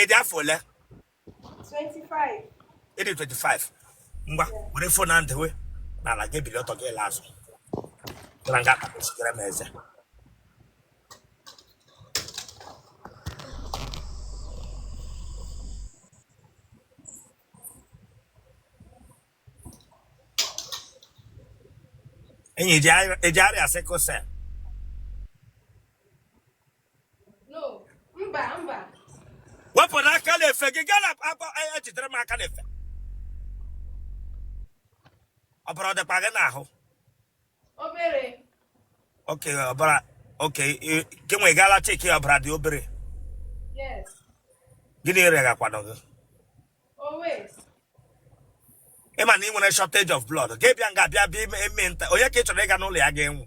ị dị afọ ole ị dị 25 ngwa were fon na ndewe n'ala gị bili ọtọ gị ele azụ gara nga akpachigara m eze enyi e ji arịa sickle cell wepụrụ aka n'efe gị gaa na akpa ejidere e m aka n'efe ọbara ọ dịkwa gị n'ahụ obere oke ọbara oke gị nwe gaala cheki ọbara dị obere gịnị reghakwanụ gị ị ma na ị nwere shortage of blood gị bịa nga bịa bịa eme nta onye ka ị chọrọ ịga n'ụlọ ya gaa nwụọ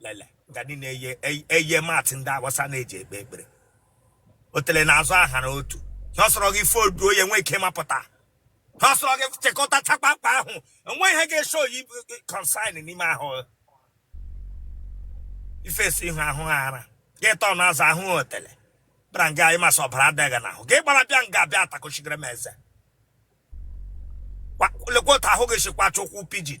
lele nga ndị na-eye ey- eye mat ndị Awụsa na-eji ekpe ekpere o tere n'azụ aha na otu ha sọrọ gị fodu onye nwee ike ịmapụta ha sọrọ gị chekọta chakpakpa ahụ enwe ihe ga-eso oyi consign n'ime ahụ ifesi ihu ahụ ha ara gị tọ na azụ ahụ ha otele bara nga anyị masị ọbara adịghị n'ahụ gị gbara bịa nga bịa atakochigara m eze Kwa- lekwa otu ahụ gị si kwacha ụkwụ pigeon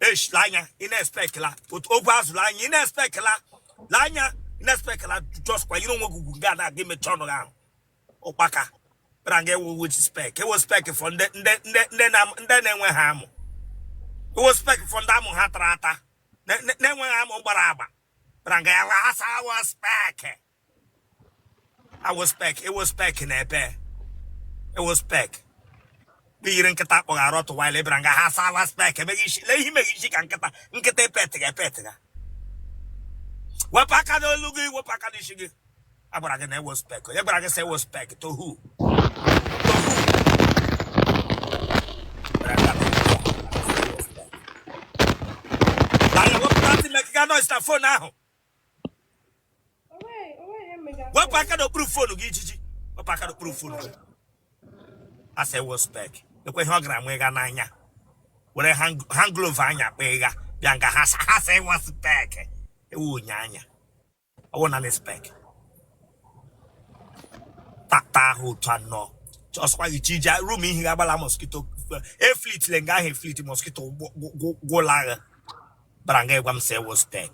esh la anya ị na-expect la otu ogwe azụ la anya ị na-expect la la anya ị na-expect la just kwa yiri onwe gị ugwu ga na aga imechi ọnụ gị ahụ ụkpaka bịara nga ị wụ ị wụ spec ị wụ spec for ndị ndị ndị ndị na ndị na-enweghị amụ ị wụ spec for ndị amụ ha tara ata na- na- na-enweghị amụ gbara agba bịara nga ya wee asị ị wụ spec ị wụ spec ị wụ spec na ebe ị wụ spec i yiri nkịta akpọghị arụ tụwaila ị bịara nga ha asị ị wụ spec emeghị isi lee ihe imeghị isi ka nkịta nkịta epetịga epetịga wepụ aka n'olu gị wepụ aka n'isi gị a gwara gị na ị wụ spec onye gwara gị sị ị wụ spec to who na wepụta ntị mekịga noise na fon ahụ wepụ aka n'okpuru fonu gị ijiji wepụ aka n'okpuru fonu gị asị ị wụ spec ekwe ihe ọ gara nwe ga n'anya were hand glove anya kpa ịgha bịa nga ha sa ha sa ị wụ spec ị wụ onye anya ọ wụ na spec tata ahụ otu anọ ọsọkwa gị chi ije room ihe ga-agbala mosquito eflit le nga ahụ eflit mosquito gwụla agha bara nga ịgwa m si ewo spek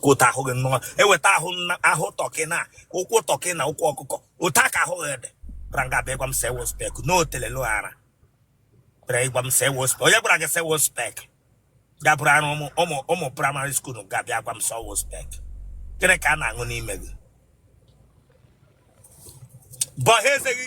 otu ahụ gị nnọọ eweta ahụ ahụ tọkị na ụkwụ tọkị na ụkwụ ọkụkọ otu aka ahụ gị dị bara nga bụ ịgwa m si ewo spek n'otelelu ara bara ịgwa m si ewo spek onye gwara gị si ewo spek ya bụrụ arụ ụmụ ụmụ ụmụ primary school ga-abịa gwa m si ewo spek gịnị ka a na-aṅụ n'ime gị bọha eze gị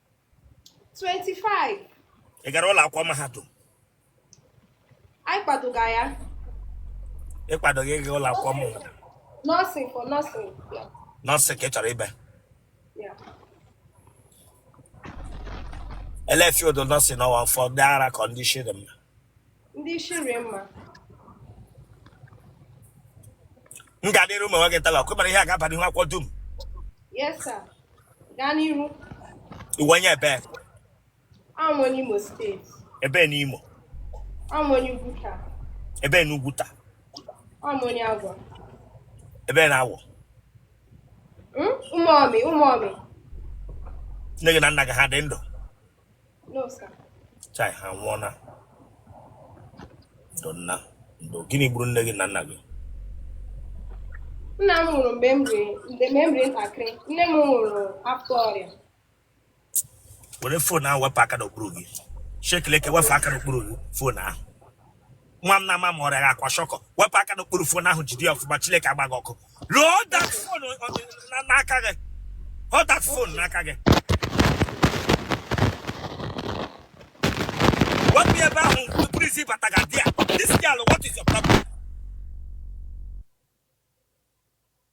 25 ị gara ụlọ akwụkwọ mahadum anyị kwadoga ya ị kwadoghị ịga ụlọ akwụkwọ mahadum nursing for nursing nursing ka ị chọrọ ịba ele field nursing ọ wụ for ndị ara condition mma ndị isi rie mma m ga-adịrị ụmụ nwoke tala ọkụ mara ihe a ga-aba n'ihu akwụkwọ dum yes sir gaa n'ihu ị wụ onye ebe Awụ m onye Imo State. Ebe n'Imo. Awụ m onye Uguta. Ebe n'Uguta. Awụ m onye Agwa. Ebe n'Agwa. Hmm? Ụmụọmị, ụmụọmị. Nne gị na nna gị ha dị ndụ? No, sir. Chai, ha nwụọna. Ndo nna, ndo gịnị gburu nne gị na nna gị? Nna m nwụrụ mgbe m riri mgbe m riri ntakịrị. Nne m nwụrụ afọ ọrịa. Were phone ahụ wepụ aka n'okpuru gị. Shekeleke wepụ aka n'okpuru gị phone ahụ. nwa m na-ama ma ọrịa aka shọkọ wepụ aka n'okpuru phone ahụ jide ya ọfụma Chineke agba gị ọkụ hold that phone n'aka gị hold that phone n'aka gị wepụ ya ebe ahụ buru isi bata ga di ya this girl what is your problem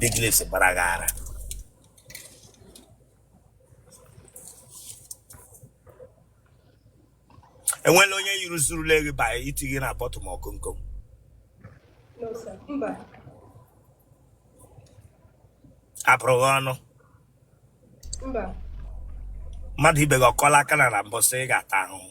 big lips gbara gị ara enwela onye yiri zurule gị ba iti gị na bọtụ ma ọkụ nkom apụrụ gị ọnụ mmadụ ibe gị ọkọla aka na na mbọsị ị ga-ata ahụhụ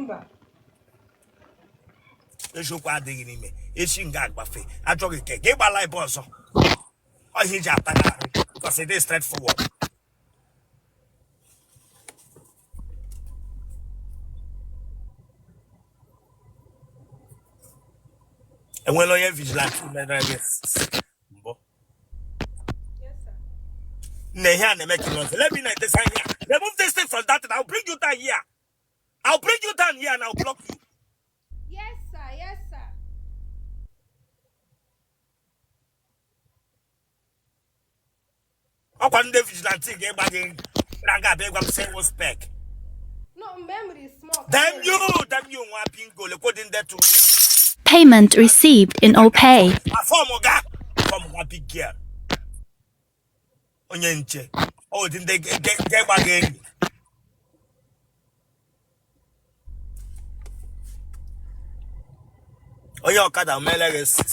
mba eziokwu adịghị n'ime echi nga agbafe achọghị ke gị gbala ebe ọzọ ọhịa iji ataghị arụ because it is straight forward enwela onye vigilante mere gị mbụ nne ihe a na-eme ka nọzi let me na-etesa ihe a remove this thing from that thing I'll bring you down here I'll bring you down here and I'll block you Yes, sir. Yes, sir. ọkwa ndị vigilante ga-egba gị na nga abịa ịgwa m sị wo spek No, mgbe m riri smoke. damn you damn you nwa bingo lekwo dị ndị tụ Payment received in OPay. afọm ga fọm nwa big girl onye nche ọ dị ndị ga- ga- ga-egba gị enyi onye ọkada mere gị sis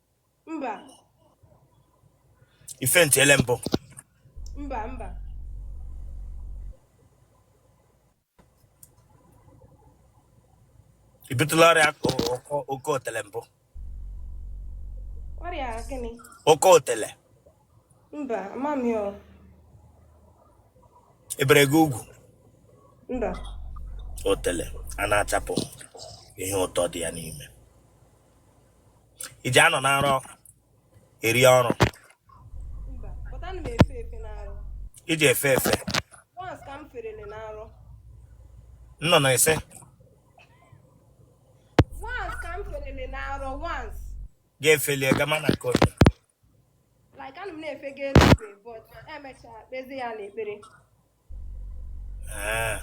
mba ị faintịele mbụ mba mba i butụla ọrịa ọkọ otele mbụ ọrịa gịnị ọkọ otele mba amami ọ e bere gị ugwu mba otele a na-achapụ ihe ụtọ dị ya n'ime i ji anọ na nrọ eri ọrụ i ji efe efe na nrọ na ise ga-efelie gama na nke onye like ana m na-efega eluigwe but e mechaa kpezie ya n'ekpere Ee.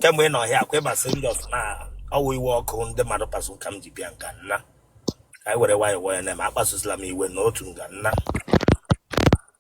kemgbe ị nọ ọhịa akwa ịba serious na ọ wụ iwe ọkụ ndị mmadụ kpasu ka m ji bịa nga nna ka anyị were nwayọọ nwayọọ na-eme akpasusila m iwe n'otu nga nna